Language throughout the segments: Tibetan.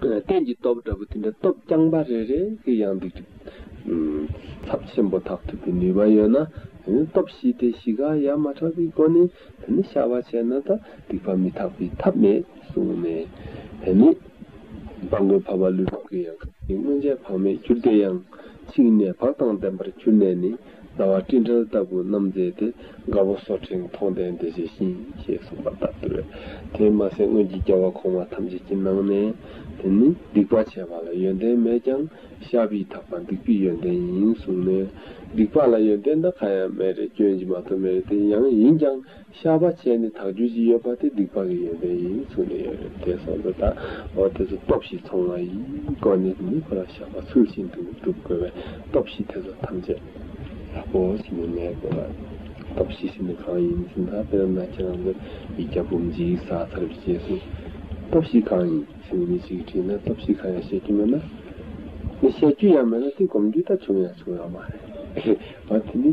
གཏན་གྱི་སྟོབས་འདྲ་པོ་དེ་འདྲ་སྟོབས་རྐྱང་པ་རེ་རེ་གི་ཡང་འདུག་ཅིང། ཚབས་ཆེན་པོ་དག་ཐུབ་པའི་ནུས་པ་ཡོད་ན། སྟོབས་བཞི་སྟེ་བཞི་ག་ཡ་མ་དྲག་པའི་སྒོ་ནས་དེ་ནི་བྱ་བ་བྱས་ན་ད་སྡིག་པ་མི་དག་པའི་ཐབས་མེད་གསུངས་ནས། དེ་ནི་སྦང་མགོན་བྷ་བ་ལུས་ཕུག་གི་ཡང་ཁབ་ཀྱི་སྔོན་ཆད་བག་མེད་གྱུར་ཏེ་ཡང་ཕྱིས་ནས་བག་དང་ལྡན་པར་གྱུར་ནས་ནི། རྩ་བ་སྤྲིན་བྲལ་ལྟ་བུ་རྣམ་མཛེས་ཏེ་དགའ་བོ་སོགས་ཕྲེང་མཐོང་ལྡན་འདས་ཇི་བཞིན་ཞེས་གསུངས་པ་ལྟར་དུ་བས། དེས་མ་ཟད་སྔོན་གྱི་རྒྱལ་བ་གོང་མ་ཐམས་ཅད་ཀྱི་ནང་ནས། དེ་ནི་སྡིག་པ་བྱས་པ་ལ་ཡོན་ཏན་མེད་ཀྱང་ཤཱ་བིས་དག་པ་སྡིག་པའི་ཡོན་ཏན་ཡིན་གསུངས་ནས། སྡིག་པ་ལ་ཡོན་ཏན་འདི་གང་ཡང་མེད་རེ་སྐྱོན་གྱི་མ་ཐོབ་མེད་རེ་དེ་ཡང་ཡིན་ཀྱང་ཤ་བ་ཅན་ནི་དག་རྒྱུ་གཅིག་ཡོད་པ་དེ་སྡིག་པ་གི་ཡོན་ཏན་ཡིན་ཚུལ་ནི་ཡོད་རེད་དེ་སོགས་འདི་དག་འོ་དེ་ཚོ་སྟོབས་བཞི་ཚང་བ་ཡིས་བཀོད་ནས་མི་ཁོ་ན་བཤགས་པ་ཚུལ་བཞིན་དུ་བསྒྲུབ་དགོས་པས་སྟོབས་བཞི་དེ་ཚོ་ཐམས་ཅད་ལ་པོ་ཞིག་ནི་མེད་དགོས་པ་རེད། སྟོབས་བཞི་ཞིག་ནི་གང་ཡིན་ཟིན་ད་དཔེར་ན་ཁྱེད་རང་ཚོས་ཡིག་བརྒྱ་འབུམ་འཇིག་ས་ཚར་བའི་རྗེས་སུ། སྟོབས་བཞི་གང་ཡིན་ཟིན་ནས་མི་ཞིག་གིས་དྲིས་ན་སྟོབས་བཞི་གང་ཡང་ཤེས་རྒྱུ་མེད་ན། ནི་བཤད་རྒྱུ་ཡང་མེད་ན་དེ་སྒོམ་རྒྱུ་ད་བྱུང་ཡང་བྱུང་ཡང་མ་རེད། འོ་དེ་ནི།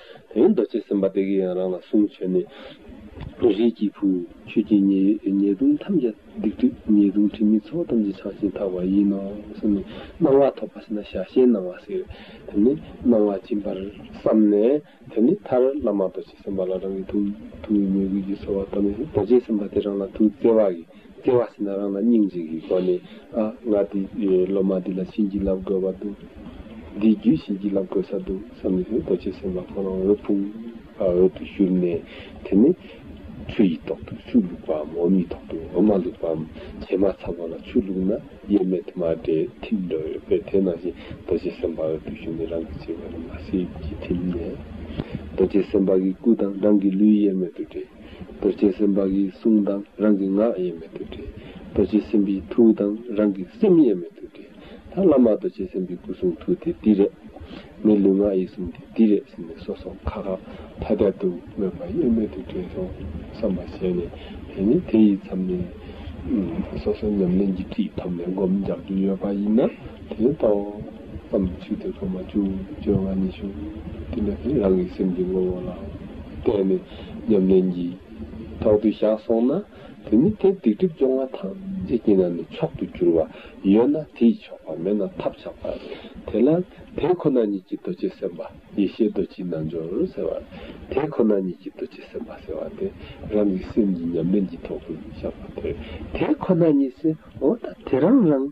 དེའི་མདོ་བྱེད་སེམས་དཔའ་དེ་གའི་ཡང་རང་ལ་གསུངས་བྱས་ནས། རིགས་ཀྱི་བུ། ཁྱོད་ཀྱི་ཉེས་ལྟུང་ཐམས་ཅད་སྡིག་སྒྲིབ་ཉེས་ལྟུང་དྲི་མའི་ཚོགས་ཐམས་ཅད་བྱང་ཞིང་དག་པ་ཡིན་ནོ་གསུངས་ནས། སྣང་བ་ཐོབ་པ་ཞེ་ན་ཞལ་ཞལ་སྣང་བ་ཟེར། དེ་ནས་སྣང་བ་སྦྱིན་པར་བསམས་ནས། དེ་ནས་མཐར་བླ་མ་རྡོ་རྗེ་སེམས་དཔའ་ལ་རང་གི་ཐུགས་ཀྱི་ཉེས་ཀུན་གྱིས་གསོལ་བ་བཏབ་ནས་རྡོ་རྗེ་སེམས་དཔའ་དེ་རང་ལ་ཐུགས་བརྩེ་བ་ཡིས། སྐྱེ་བ་ཟིན་ན་རང་ལ་སྙིང་རྗེ་གི་སྒོ་ནས་ཨ་ང་དེ་སློབ་མ་འདི་ལ་བྱིན་གྱིས་བརླབས་དགོས་པ་འདུག། འདིའི་རྒྱུད་བྱིན་གྱིས་བརླབས་དགོས་ས་འདུག་བསམ་ནས་རྡོ་རྗེ་སེམས་དཔའ་ཁོང་རང་འོད་ཕུང་བར་འོད་དུ་བཞུར་ནས་དེ་ནས། ཆུ་ཡི་ཐོག་ཏུ་ཆུ་བླུགས་པའམ་འོམ་ཡི་ཐོག་ཏུ་འོམ་མ་བླུགས་པའམ་བྱེ་མ་ཚ་བ་ལ་ཆུ་བླུགས་ན་དབྱེར་མེད་དུ་མ་འདྲེས་ཐིམ་འགྲོ་བས་དེ་ནང་བཞིན་རྡོ་རྗེ་སེམས་དཔའ་འོད་དུ་བཞུར་ནས་རང་གི་བྱེ་བས་ལ་མ་སྲིད་ཀྱི་ཐིམ་ནས། རྡོ་རྗེ་སེམས་དཔའ་གི་སྐུ་དང་རང་གི་ལུས་དབྱེར་མེད་དུ་འདྲེས། རྡོ་རྗེ་སེམས་དཔའ་གྱི་གསུང་དང་རང་གི་ངག་དབྱེར་མེད་དུ་འདྲེས། རྡོ་རྗེ་སེམས་དཔའི་ཐུགས་དང་རང་གི་སེམས་དབྱེར་མེད་དུ་འདྲེས། ད་བླ་མ་རྡོ་རྗེ་སེམས་དཔའི་སྐུ་གསུང་ཐུགས་དེ་འདི་རེད། མི་ལུས་ངག་ཡིད་གསུམ་དེ་འདི་རེད་ཟེར་ནས་སོ་སོ་ཁ་ཁ་ཐ་ཐ་དུ་སྨྲོས་པ་དབྱེར་མེད་དུ་འདྲེས་སོ་བསམ་པ་བྱས་ནས་དེ་ནི་དེ་ཡི་མཚམས་ནས། སོ་སོའི་ཉམས་ལེན་གྱི་ཁྲིད་ཐོབ་ནས་སྒོམ་རྒྱག་རྒྱུ་ཡོད་པ་ཡིན་ན་དེ་ལྟོ། བསམ་ཚུལ་དེ་གོ་མ་བཅུ་བཅོ་ལྔ་ཉི་ཤུ། དེ་ནས་དེ་རང་གི་སེམས་ཀྱི་ངོ་བོ་ལ་བལྟས་ནས། ཉམས་ལེན་གྱིས། དོག་ཏུ་བཞག་སོང་ན། དེ་ནི་དེ་སྡིག་སྒྲིབ་སྦྱོང་བ་དང་ཅི་བགྱིས་ན་ནི་མཆོག་ཏུ་འགྱུར་བ། ཡོད་ན་དེ་ཡིས་ཆོག་པ་མེད་ན་ཐབས་ཆག་པ། དེ་ལ། དེ་ཁོ་ན་ཉིད་ཀྱི་རྡོ་རྗེ་སེམས་དཔའ་ཡེ་ཤེས་རྡོ་རྗེའི་རྣལ་འབྱོར་ཟེར་བ། དེ་ཁོ་ན་ཉིད་ཀྱི་རྡོ་རྗེ་སེམས་དཔའ་ཟེར་བ་སྟེ། རང་གི་སེམས་ཉིད་ཉམས་ལེན་གྱིས་དོག་ཏུ་བཞག་པ་དེར། དེ་ཁོ་ན་ཉིད་སེམས་འོ་ད་དེ་རང་རང།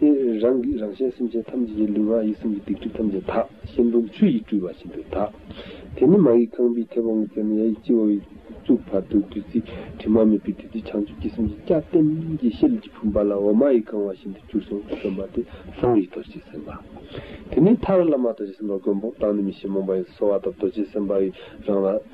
དེ་རང་གིས་རང་གཞན་སེམས་ཅན་ཐམས་ཅད་ཀྱི་ལུས་ངག་ཡིད་གསུམ་གྱི་སྡིག་སྒྲིབ་ཐམས་ཅད་དག་ཤིང་དུམ་ཆུ་ཡིས་བཀྲུས་པ་བཞིན་དུ་དག། དེ་ནས་མ་ཡིག་ཁང་པའི་མཐེ་བོང་གི་རྩེ་ནས་ཡ་ཡིག་སྤྱི་བོ་བས་གཙུག་བར་དུ་བདུད་རྩིའི་དྲི་མ་མེད་པའི་བདུད་རྩི་བྱང་ཆུབ་ཀྱི་སེམས་ཀྱི་སྐྱབས་རྟེན་གྱི་ཤེལ་གྱི་བུམ་པ་ལ་འོ་མ་ཡིས་བཀང་བ་བཞིན་དུ་གྱུར་སོང་ཞེས་སྟོན་པ་དེ་ལྷུང་བའི་རྡོ་རྗེ་སེམས་དཔའ། དེ་ནས་ཐར་བླ་མ་རྡོ་རྗེ་སེམས་དཔའ་མགོན་པོ་དང་ནུས་མེད་ཞིང་རྨོངས་པ་ཡོངས་སུ་གསོ་བ་དང་རྡོ་རྗེ་སེམས་དཔའ་ཡི་རང་ལ།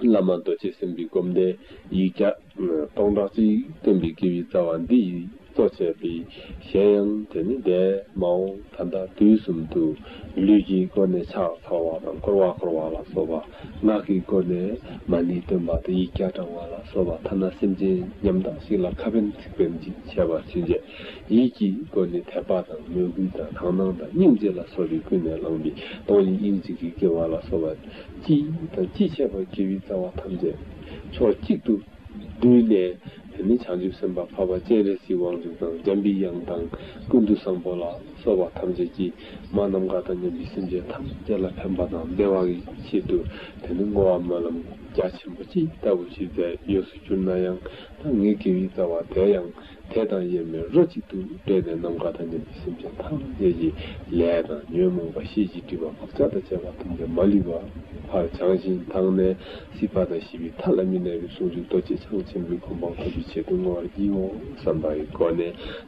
བླ་མ་རྡོ་རྗེ་སེམས་དཔའི་སྒོམ་བཟླས་ཡིག་བརྒྱ། སྟོང་ཕྲག་གཅིག་བསྟན་པའི་དགེ་བའི་རྩ་བ་འདི་ཡིས་གཙོ་བྱས་པའི། གཞན་ཡང་དེ་ནི་འདས་མའོ། ད་ལྟ་དུས་གསུམ་དུ། ལུས་ཀྱི་སྒོ་ནས་ཕྱག་འཚལ་བ་དང་བསྐོར་བ་བསྐོར་བ་ལ་སོགས་པ། ངག་གི་སྒོ་ནས་མ་ཎི་སྟོན་པ་དང་ཡིག་བརྒྱ་བགྲང་བ་ལ་སོགས་པ་ཐ་ན་སེམས་ཅན་ཉམ་ཐག་ཞིག་ལ་ཁ་བེམ་ཚིག་བེམ་ཅིག་བྱས་པ་ཚུན་ཆད། ཡིད་ཀྱི་སྒོ་ནས་དད་པ་དང་མོས་གུས་དང་དག་སྣང་དང་སྙིང་རྗེ་ལ་སོགས་པའི་ཀུན་ནས་བསླངས་པའི་གདོང་ཡིན་དབྱིངས་གཅིག་གིས་བསྐྱེད་བ་ལ་སོགས་པ། ཅི་དང་ཅི་བྱས་པར་སྤྱི་བོའི་རྩ་བ་ཐམས་ཅད་ཕྱོགས་གཅིག་ཏུ་བསྡུས་ནས། དེ་ནས་བྱང་ཆུབ་སེམས་དཔའ་འཕགས་པ་སྤྱན་རས་གཟིགས་དབང་ཕྱུག་དང་འཇམ་པའི་དབྱངས་དང་ཀུན་ཏུ་བཟང་པོ་ལ་སོགས་པ་ཐམས་ཅད་ཀྱིས་མ་རྣམས་དགའ་དང་མཉམ་པའི་སེམས་ཅན་ཐམས་ཅད་ལ་ཕན་པ་དང་བདེ་བའི་ཆེད་དུ་དེ་ནི་བསྔོ་བ་སྨོན་ལམ་རྒྱ་ཆེན་པོ་ཅི་ལྟ་བུ་ཞིག་མཛད་ཡོད་སུ་གྱུར་ན་ཡང་ད་ངའི་དགེ་བའི་རྩ་བ་དེ་ཡང། དེ་དང་དབྱེར་མེད་རོ་གཅིག་ཏུ་འདྲེས་ནས་ནམ་མཁའ་དང་ལྡན་པའི་སེམས་ཅན་ཐམས་ཅད་ཀྱི་ལས་དང་ཉོན་མོངས་པ་ཤེས་ཀྱི་སྒྲིབ་པ་བག་ཆགས་དང་བཅས་པ་ཐམས་ཅད་མ་ལུས་པ་བར་བྱང་ཞིང་དག་ནས་སྲིད་པ་དང་ཞི་བའི་མཐའ་ལ་མི་གནས་པའི་ཟུང་འཇུག་རྡོ་རྗེ་འཆང་ཆེན་པོའི་གོ་འཕང་ཐོབ་པའི་ཆེད་དུ་བསྔོ་བར་བགྱིའོ་བསམ་པའི་སྒོ་ནས་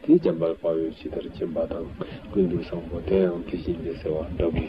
དེའི་འཇམ་དཔལ་དཔའ་བོས་ཇི་ལྟར་མཁྱེན་པ་དང་ཀུན་ཏུ་བཟང་པོ་དེའང་དེ་བཞིན་ཏེ་ཟེར་བ་འདྲ་བུ།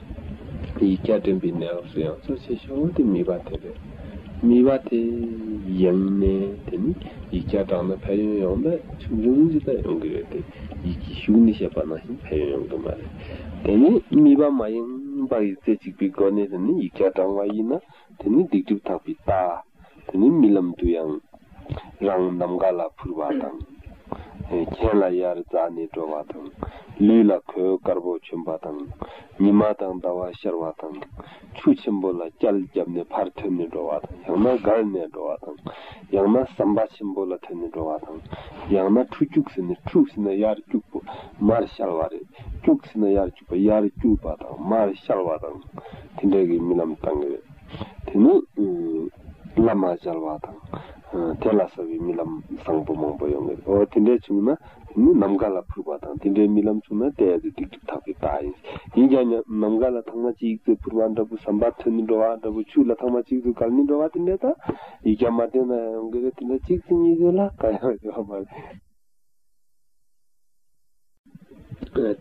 ཡིག་བརྒྱ་འདྲེན་པའི་གནས་སྐབས་སུ་ཡང་གཙོ་ཆེ་ཤོས་ངོ་དེ་མིད་པ་དེ་རེད། མིད་པ་དེ་ཡིན་ནས་དེ་ནི་ཡིག་བརྒྱ་བགྲང་ན་ཕན་ཡོན་ཡོང་ན་ཆུང་ཆུང་ཅིག་ལ་ཡོང་གི་རེད་དེ་ཡིད་ཀྱི་ཤུགས་ནི་བཤད་པ་ནང་བཞིན་ཕན་ཡོན་ཡོང་གི་མ་རེད། དེ་ནི་མིད་པ་མ་ཡིན་པར་ཡིག་རྩལ་གཅིག་པའི་སྒོ་ནས་དེ་ནི་ཡིག་བརྒྱ་བགྲང་བ་ཡིན་ན། དེ་ནི་སྡིག་སྒྲིབ་དག་པའི་རྟགས། དེ་ནི་རྨི་ལམ་དུ་ཡང། རང་ནམ་མཁའ་ལ་འཕུར་བ་དང། གྱེན་ལ་ཡར་འཛག་ནས་འགྲོ་བ་དང། ལུས་ལ་གོས་དཀར་པོ་གྱོན་པ་དང། ཉི་མ་དང་ཟླ་བ་ཤར་བ་དང། ཆུ་ཆེན་པོ་ལ་སྐྱལ་བརྒྱབ་ནས་ཕར་ཐོན་ནས་འགྲོ་བ་དང་ཡང་ན་སྒར་ནས་འགྲོ་བ་དང། ཡང་ན་ཟམ་པ་ཆེན་པོ་ལ་ཐོན་ནས་འགྲོ་བ་དང། ཡང་ན་ཁྲུ་སྐྱུགས་ཟེར་ནས་ཁྲུགས་ཟེར་ན་ཡར་སྐྱུགས་པོ་མར་ཤར་བ་རེད་སྐྱུགས་ཟེར་ན་ཡར། དབྱར་སྐྱུར་པ་དང་མར་བཤལ་བ་དང་དེ་འདྲ་གི་རྨི་ལམ་བཏང་གི་རེད། དེ་ནི། སླ་མ་བཤལ་བ་དང། དེ་ལ་ཟ་བའི་རྨི་ལམ་བཟང་པོ་མང་པོ་ཡོང་གི་རེད། འོ་དེ་འདྲ་བྱུང་ན་དེ་ནི་ནམ་མཁའ་ལ་འཕུར་བ་དང་དེ་འདྲའི་རྨི་ལམ་བྱུང་ན་དེ་ཨེ་ཙི་སྡིག་སྒྲིབ་དག་པའི་རྟགས་ཡིན། ཡིན་ཀྱང་ཉམས་ནམ་མཁའ་ལ་ཐང་མ་གཅིག་ཙེ་འཕུར་བ་འདྲ་བུ་ཟམ་པར་ཐོན་ནི་འགྲོ་བ་འདྲ་བུ་ཆུ་ལ་ཐང་མ་གཅིག་ཙེ་བསྒགས་ནི་འགྲོ་བ་དེ་འདྲའི་རྟགས་ཡིག་ཀྱང་མ་བསྟན་ན་ཡོང་གི་རེད་དེ་འདྲ་གཅིག་ཙེ་གཉིས་ཙེ་ལ་གང་ཡང་ཡོད་མ་རེད།